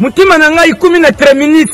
motema na ngai ikumi na treminit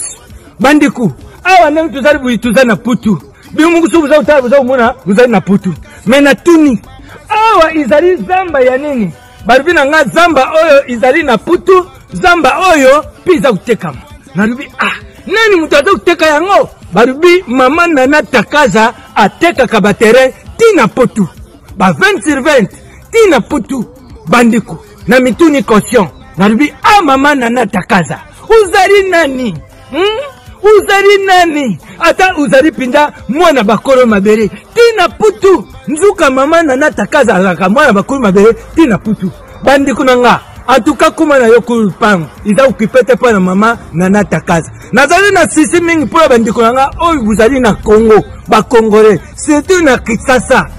bandeko awa ndenge tozali boye toza na putu bino moko soki boza kotala boza komona bozali na putu me natuni awa ezali zamba ya nini balobi na ngai zamba oyo ezali na putu zamba oyo mpe eza kotekama nalobi ah nani moto aza koteka yango balobi mama nana takaza atekaka baterrain ti na potu ba 20 sur 20 tina putu bandeko na mituni conscient nalobi a ah, mama nana takaza ozali nani hmm? ozali nani ata ozali mpenza mwana bakolo mabele tina putu nzuka mama nana takaza azalaka mwana bakolo mabele tina putu bandeko na nga atuka kuma na yo kulupango eza okipe te mpo na mama nana takaza nazali na sisi mingi mpo na bandeko na nga oyo bozali na congo bakongole surtout na kisasa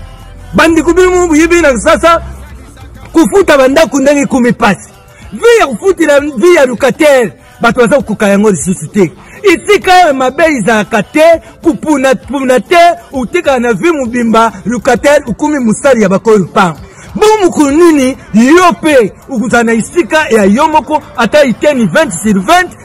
bandeko bino mo boyebi na kisasa kofuta bandako ndenge ekomi pasi vi ya kofutela vi ya locataire bato baza kokoka yango lisusu te esika oyo mabe ezalaka te kopunapuna te otekaka na vi mobimba locataire okomi mosali ya bakolo lupango bongo mokolo nini yo mpe okozala na esika ya yo moko ata iteni 20 sur 20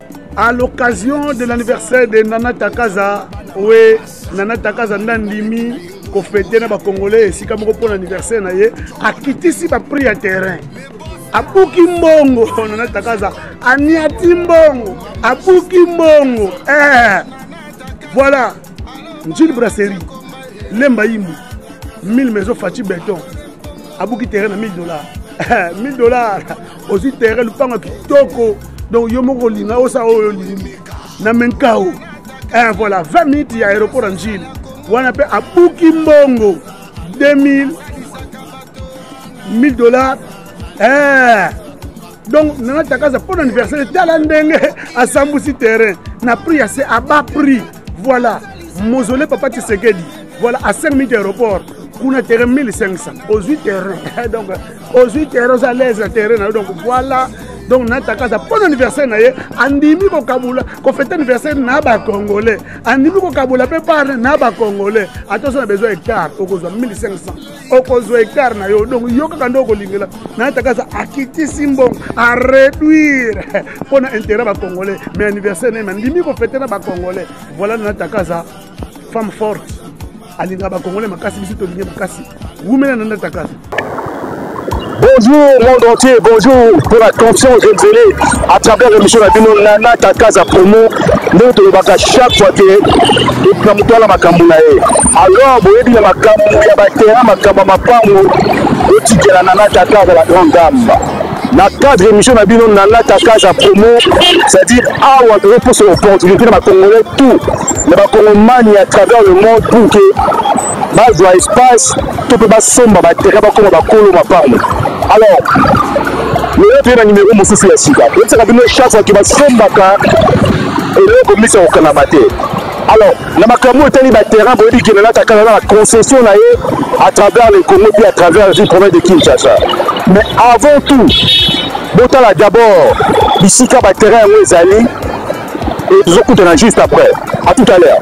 À l'occasion de l'anniversaire de Nana Takaza, oui, Nana Takaza Nandimi, kofete na bacongolais esika moko mpo na anniversaire na ye akitisi baprix ya terrain abuki mbongo nana takaza aniati mbongo abuki mbongo eh. voilà njili brasserie lemba yimbu 1000 maison faci beton abuki terrain na 1000 dollars 1000 dollars ozwi terrain lupango ya kitoko donc yo moko olinga osala oyo olingi na menkao eh, voilà 20 minutes ya aéroport ya njili wana mpe abuki mbongo 2000 1000 dollars eh. donc nana takaza mpo na anniversaire tala ndenge asambusi terrain na prix ya se aba prix voilà mausolée papa tshisekedi voilà à 5 minutes aéroport kuna terrain 1500 ozwi terrain donc ozwi terrain oza alaise na terrain na yo donc voilà donc natakaza mpo na anniversaire na ye andimi kokabola kofete anniversaire na bacongolais andimi kokabola mpe parne na bacongolais ata ozo na besoin hectare okozwa 1500 okozwa hectare na yo donc yo kaka nde okolingela natakaza akitisi mbongo areduire mpo na intérêt bacongolais mais anniversaire na ye mandimi kofete na bacongolais voilà natakaza femme forte alingaka bakongole makasi biso tolingi makasi wumela na ndatakasi Bonjour monde entier, bonjour pour la conscience de Nzele à travers l'émission la bino Nana Takaza Promo ndenge tolobaka chaque fois te na moto wana makambo na ye alors boyebi na makambo ya batera makambo ya mapango otikela Nana Takaza la grande dame na cadre émission na bino nana kakaza promo c'est-à-dire awa tozo posa opportunité na bacongolais tout na bacongomani à travers le monde pour que bazwa espace to mpe basomba baterrain bakoma bakolo mapango alors lelo toye na nimero mosusu ya sika toyebisaka bino chaque fois ke basombaka eloko misa kokangama te alors na makambo oyo etali baterrain boyebi kende nata kaka na concession na ye à travers le congo mpe à travers ville province de kinshasa mais avant tout botala d'abord bisika baterrain yango ezali et tozokutana juste après à tout à l'heure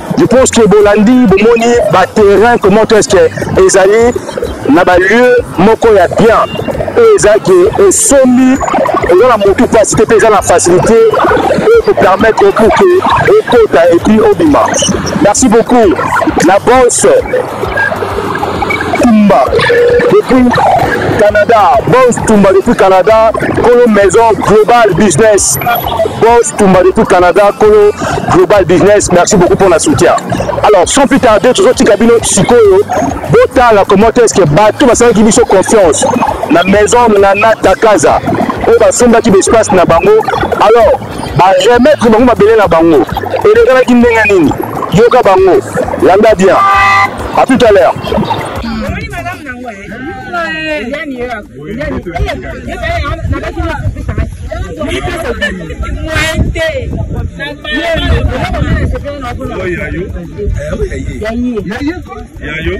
Je pense que Bolandi, Bomoni, ba terrain, comment est-ce que Ezali, na ba lieu, moko ya bien. Et Ezali, et Somi, et dans la moto passe, et dans la facilité, et vous permettre pour que, et Kota, et puis Obima. Merci beaucoup. La bosse. Tumba depuis Canada, Boss Tumba depuis Canada, Kolo Maison Global Business. Boss Tumba depuis Canada, Kolo Global Business. Merci beaucoup pour la soutien. Alors, sans plus tarder, tout ce qui a bino sikoyo, botala comment est-ce que bato basalaki biso confiance na maison Nana Takaza oyo basombaki baespace na bango alors ba remettre bango mabele na bango elekalaki ndenge nini yoka bango landa bien à tout à l'heure yayo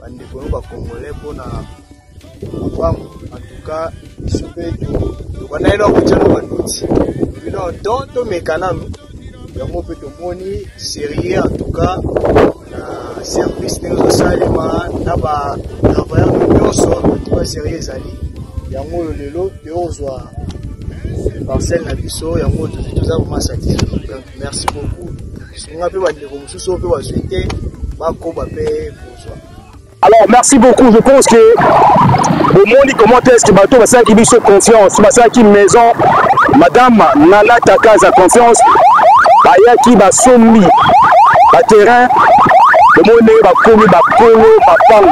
bandeko yo bacongolais mpona mpango antuka biso mpe tobanda yelo akotya na banoti bino don tomeka nanu yango mpe tomoni serie antuka na service ndenge ezosalema na batravailleur nyonso antuka serie ezali yango oyo lelo tokozwa parcelle na biso yango tozwi toza vraimen satisfait merci beaucoup sunga mpe bandeko mosusu oyo mpe bazwi te bakoba mpe Alors, merci beaucoup. Je pense que au monde, comment est-ce que bateau va faire qu'il se confiance, va faire qu'il maison. Madame Nana Taka a confiance. Baya qui va sommi, va terrain. Le monde va coller, va coller, va parler.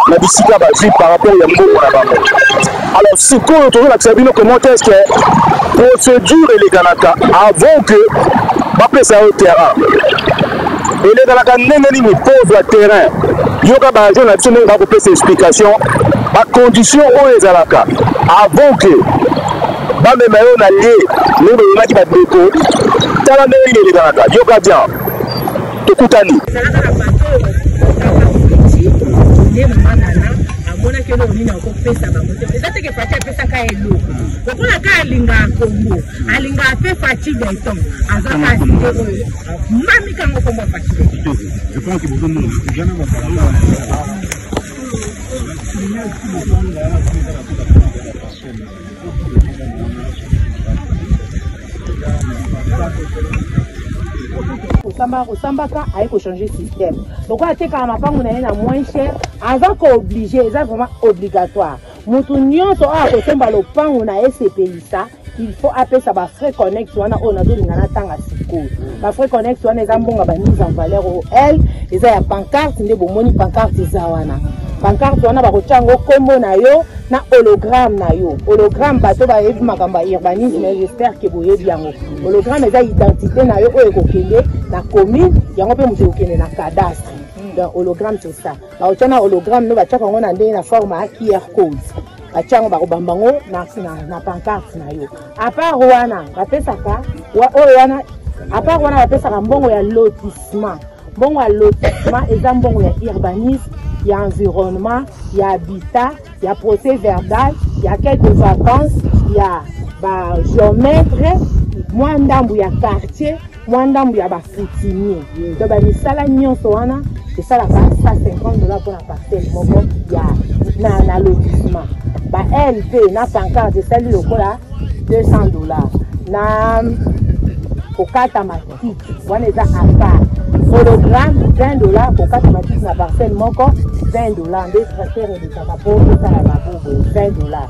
na bisika bazwi par rapport ya mbongo na bango alors sikoyo tozolakisa bino comment est ce que procédure elekanaka avant que bapesa yo terrain elekalaka ndenge nini mpo ozwa terrain yoka baagent na biso ndenge bakopesa explication bacondition oyo ezalaka avant ke bamema yo na lie ndenge boyonaki bandeko tala ndenge nini elekalaka yoka bien tokutani amonaki eloko nini akopesa bango te eza teke fati apesaka eloko lokola ka alingaka kongo alingaka mpe fati beton aza kasi te oyo Mami kanga kombo pati. Je pense que bozo mona kujana ba salon. kosamba kosambaka aye kochange système lokola atekaka mapango na ye na moins cher aza kooblige eza vraiment obligatoire moto nyonso oyo akosomba lopango na ye sepelisa il faut apesa ba frais connex wana oyo nazolinga natanga sikoyo ba frais connex wana eza mbongo ba mise en valeur oyo l eza ya pancarte nde bomoni pancarte eza wana pancarte wana bakotya yango nkombo na yo na hologramme na yo hologramme bato bayebi makambo ya urbanisme j'espère ke boyebi yango hologramme eza identité na yo oyo ekokende na commune yango mpe moto ekokende na cadastre donc hologramme c'est ça baotya na hologramme no batyaka yango na ndenge na forme ya qr code batya yango bakobamba yango na pancarte na yo apart wana bapesaka oyo wana apart wana bapesaka mbongo ya lotissement mbongo ya lotissement eza mbongo ya urbanisme ya environnement ya habitat ya procès verbal ya quelque vacance ya bageometre mwa ndambo ya quartier mwa ndambo ya bacoutumier to bamisala nyonso wana esalaka 150 dola mpona parcele moko ya na, na lotissement ba lp na pancarte esali lokola 200 dola na kokata matiti wana eza apart hologramme 20 dola kokata matiti na parcele moko 20 dola nde tracteur elekaka mpo esala babobo 20 dola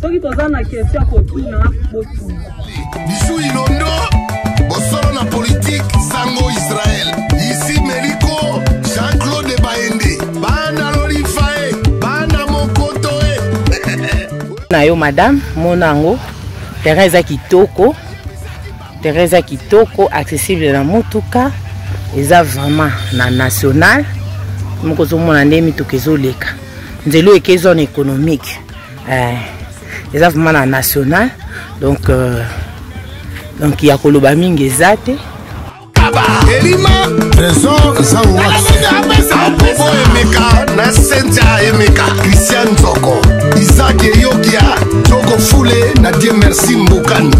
soki toza na question ya kotuna botuna bisu ilondo bosolo na politike sango israel isi meliko jean claude baende bana lolifae bana mokoto e na yo madame mona yango terrain eza kitoko terrain eza kitoko accessible na motuka eza vraiment na national moko ozomona nde mituka ezoleka nzela oyo eke zone économique eh, eza vraiment na national donc euh, donc ya koloba mingi eza te elima trésor zaoaobo emeka na sentia emeka christian nzoko isaki eyokia joko fule na die merci mbokani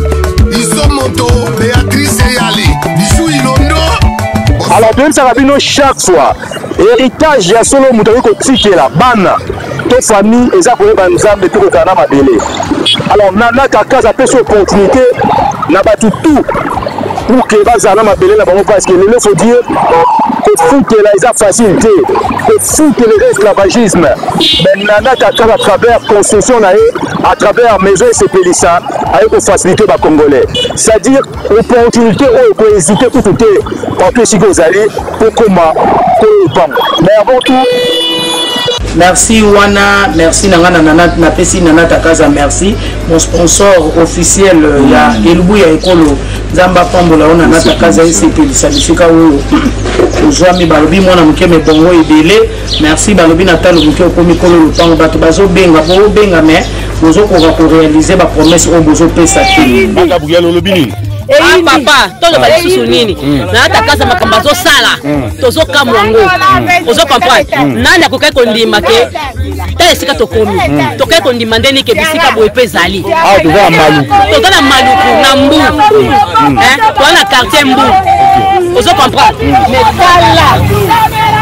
iso moto beatrice eyali bisu ilondo alors toyebisaka bino chaque fois héritage ya solo moto akoki kotikela bana to famille eza koyeba nzambe te kozala na mabele alors nana kakaza apesi opportunité na bato tout pour ke bazala na mabele na bango parce que lelo faut dire kofutela eza facile te kofutela eza esclavagisme mais nana kakaza à travers construction na ye à travers maison esepelisa aye kofacilite bacongolais c'est à dire opportunité oyo kohésite kutu te bato esika ozali kokoma koyeba mais avant tout merci wana merci na ngai napesi na nata kaza merci mon sponsor officiel euh, ya mm. elubu ya ekolo nzambe apambola yo na nata kaza esepelisa bisika oyo ozwami balobi mwana moke mebongo ebele merci balobi na talo moke okomi kolo lopango bato bazobenga bobenga me bozokoka korealize bapromese oyo bozopesa te magabriel olobi nini ah, papa toloba lisusu nini mm. nayatakasa makambo azosala mm. tozokamwa yango mm. ozo comprendre nani akokaki kondima ke tala esika tokomi hmm. tokei kondima nde nike bisika boye mpe ezali ah, toza na maluku toza na maluku na mbu hmm. eh, toza na quartier mbu ozo comprendre mais tala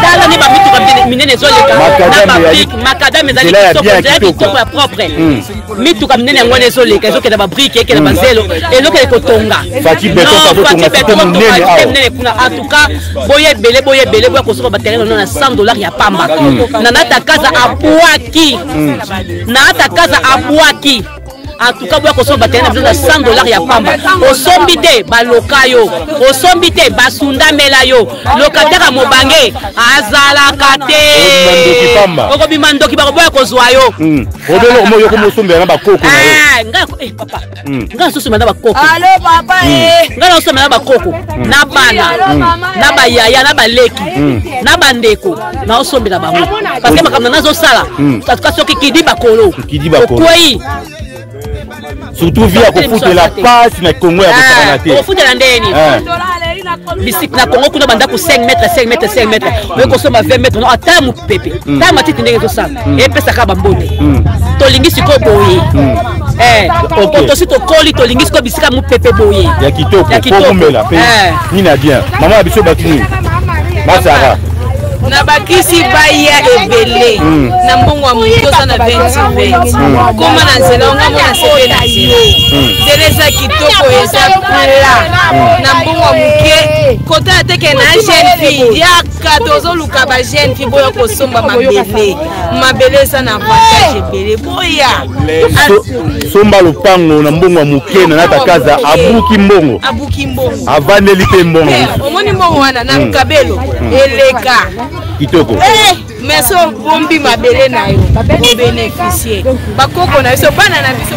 tala nde bamituka minene ezoleka na bapik makadame ezali kitoko ezali kitoko ya propre mituka minene yango wana ezoleka ezokenda babrike ekenda hmm. bazelo ezokende kotonga minene kuna antuka boye ebele boye ebele boya kosoka baterrain ono na 100 dollar ya pamba hmm. nanata kaza abwaki hmm. nanata kaza abwaki en tout cas boya kosomba batele na bino na 100 dollar ya pamba osombi te baloka yo osombi te basundamela yo lokataka mobange azalaka te okobima ndoki bakoboya kozwa yo hmm. obele omo yoko mosombela na bakoko na yo ah, nga eh, papa hmm. nga nasosombela na bakoko alo papa hmm. eh. nga nasosombela na bakoko na bana na bayaya na baleki na bandeko naosombela bango parce que makambo na nazosala katuka soki kidi bakolo okwei surtout vie ya kofutela pasi na kongo ya kosangana ah, te kofutela ndenge nini ah. bisika na kongo kuna bandako 5 mètre 5 mètre 5 mètre hmm. oye kosomba 20 mètre no ata mopepe hmm. ta matiti ndenge ezosala hmm. epesaka bambonde tolingi sikoyo boye eh, tosi tokoli tolingi sikoyo bisika mopepe boye ya kitoko komela mpe eh. nini ya bien mama ya biso bato nini basara na bakisi baya ebele hmm. na mbongo ya moto oza na 2020 koma na nzela onga mona sebe na yo hmm. nzela eza kitoko eza pla hmm. na mbongo ya moke kota ateke na jeune fille yaka tozoluka ba jeune fille boya kosomba mabele mabele eza na avantage ebele boya somba lopango na mbongo ya moke na natakaza abuki mbongo avandeli mpe mbongo eh, omoni mbongo wana na hmm. kabelo hmm. eleka kitoko eh, mais so bombi mabele na yo obeneficie bakoko na biso bana na biso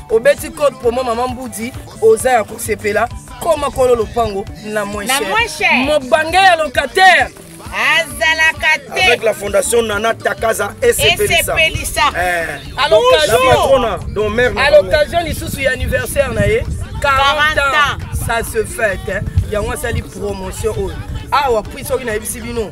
obeti code promo mama mbudi oza ya kosepela koma kolo lopango na moins cher mobange ya locataire azalaka te avec la fondation nana takaza esepelisa eh. à l'occasion lisusu ya anniversaire na ye 40 ans ça se fête yango asali promotion oyo awa puis soki nayebisi bino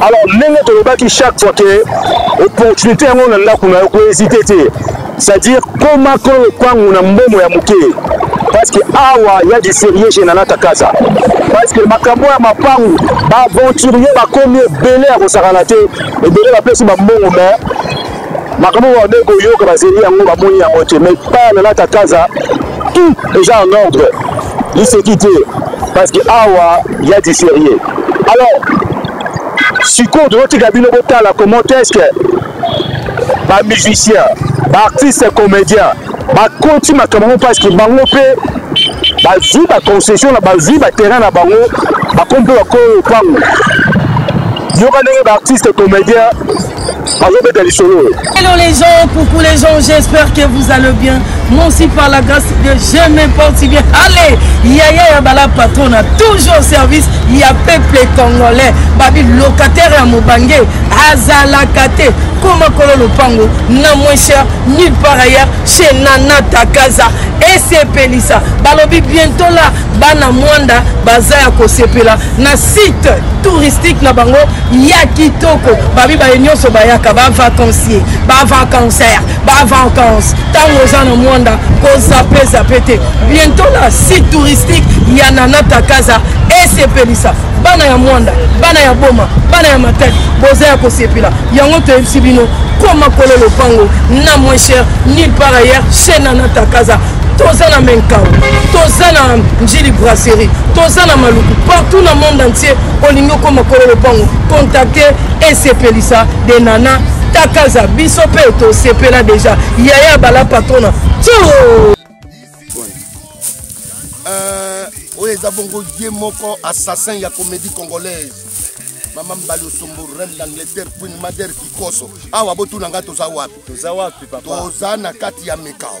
alors ndenge tolobaki chaque fois ke opportunité yango na ndako na yo kohésite te c'est-à-dire koma kolo lopango na mbomo ya moke parce que awa ya du sérieux chez nana kakaza parce que makambo ya mapangu baaventurier bakomi ebele ya kosakana te ebele bapesi bambongo mais makambo oyo babei koyoka bazeli yango bamoni yango te mai epai na natakaza tout eza en ordre liseki te parce que awa ya diferie alors sikoyo tozotika bino botala comment est ce que bamusicien baartiste comédien bakoti makambo yango parce que bango mpe bazwi baconcession na bazwi baterrain na bango bakomi mpe bakoyo lopango yoka ndenge baartiste comédien azobeta lisolo oyo hello les gens coucou les gens j'espère que vous allez bien moi aussi par la grâce de je me porte bien allez yaya ya bala patrona toujours service ya peuple congolais babi locataire ya mobange azalaka te koma kolo lopango na moins cher nulle part ailleurs chez nana takaza esepelisa balobi bientôt là bana mwanda baza ya kosepela na site touristique na bango ya kitoko babi baye nyonso bayaka bavacancier bavacancer bavacance ntango oza na mwanda kozape zape te bientôt na site touristique ya nanatakaza esepelisa bana ya mwanda bana ya boma bana ya matadi boza ya kosepela yango toyebisi bino koma kolo lopango na moins cher nil par ailleurs chez nanatakaza toza na menkau toza na njili brasserie toza na maluku partout na monde entier olingi okoma kolo lopango contacte esepelisa de nana takaza biso mpe tosepela deja yaya bala patrona tio euh, oyo eza bongo ye moko assassin ya comédie congolaise mama mbali osombo reine d'angleterre queen mader kikoso awa botuna ngai toza wapi toza na kati ya mikao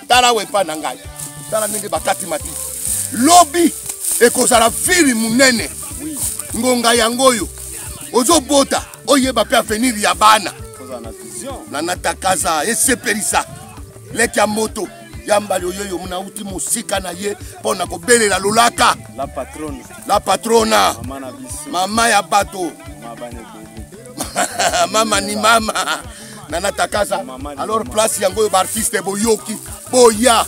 tala wepa na ngai tala ndenge bakati matiti lobi ekozala viri monene ngonga yango oyo ozobota oyeba mpe avenir ya bana na natakaza esepelisa leki ya moto ya mbali oyo yo mona uti mosika na ye mpo na kobelela lolaka la patrona, la patrona. mama ya bato mama ni mama na natakaza alors place yango oyo baartiste boyoki boya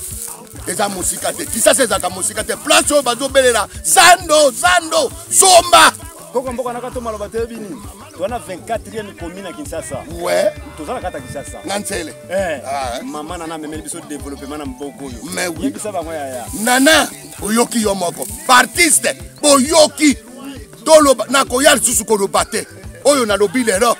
eza mosika te kisasa ezalaka mosika te place oyo bazobelela zando zando somba koko mboka naka to maloba toyebi nini twana 24e komi na kinshasa we tozala kata kinshasa na nzele eh, ah, eh. mama nana amemeli biso développement na mboka oyo yebisa bango yaya nana oyoki yo moko baartiste boyoki toloba nakoya lisusu koloba te oyo nalobi lelo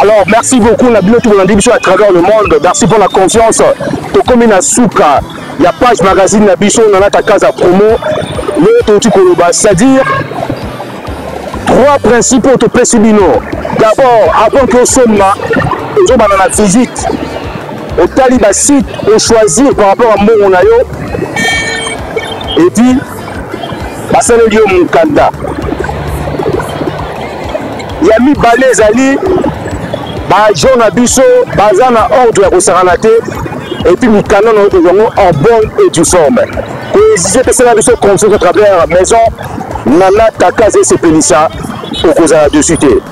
Alors, merci beaucoup. La bilote de l'Andibiso à travers le monde. Merci pour la confiance. Tokomi na suka. Ya page magazine na biso na nata casa promo. Le toti koloba, c'est-à-dire trois principaux to pesibino. D'abord, avant que soma, nous avons la visite. Au taliba site, on choisir par rapport à mon et puis basaleli yo mokanda ya mibale ezali baagent na biso baza na ordre ya kosakana te epuis mikanda na oyo yango en bonne et du forme koexige pesala biso confiance à travers maison nana kaka ezesepelisa okozala dessus te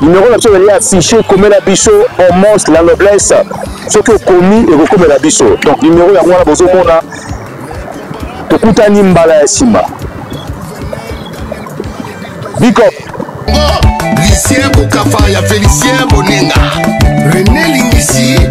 Numéro na biso ezali affiché komela biso homos la noblesse soki okomi ekokomela biso donc numéro yango wana bozomona tokutani mbala ya nsima bikop lucien bokafa ya felicien bonenga rene lingisi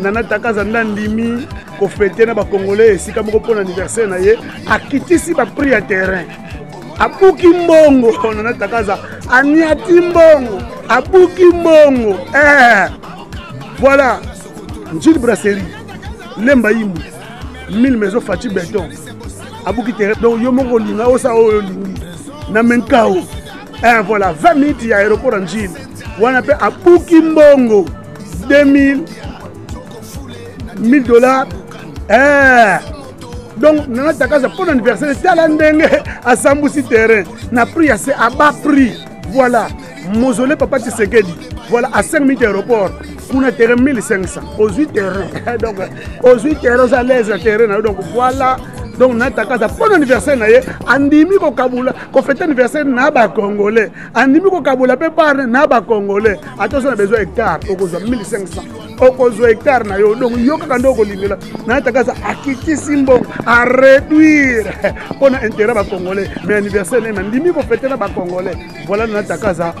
nana takaza nde andimi kofete na bacongolais esika moko mpo na anniversaire na ye akitisi baprix ya terrain abuki mbongo nana takaza aniati mbongo abuki mbongo eh. voilà njili brasserie lemba yimbu 1000 maison fati beton abuki terrain donc yo moko olinga osala oyo olingi na menkao eh, voilà 20 minutes ya aéroport ya njili wana mpe abuki mbongo 2000 1000 dollars eh. donc nana takaza mpo na anniversaire tala ndenge asambusi terrain na prix ya se à bas prix voilà mausolée papa tshisekedi voilà à 5 minutes aéroport kuna terrain 1500 ozwi terrain donc ozwi terrain oza lese ya terrain na yo donc voilà donc natakaza mpo na anniversaire na ye andimi kokabula kofete anniversaire na bacongolais andimi kokabola mpe bare na bacongolais ata oza na besoin hectare okozwa 1500 okozwa hectare na yo donc yo kaka nde okolingela na takasa akitisi mbongo areduire mpo na intérêt bacongolais mais anniversaire neme andimi kofete na bacongolais voilà na takasa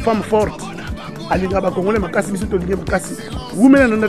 femme forte alingaka bacongolais makasi biso tolingi makasi wumela na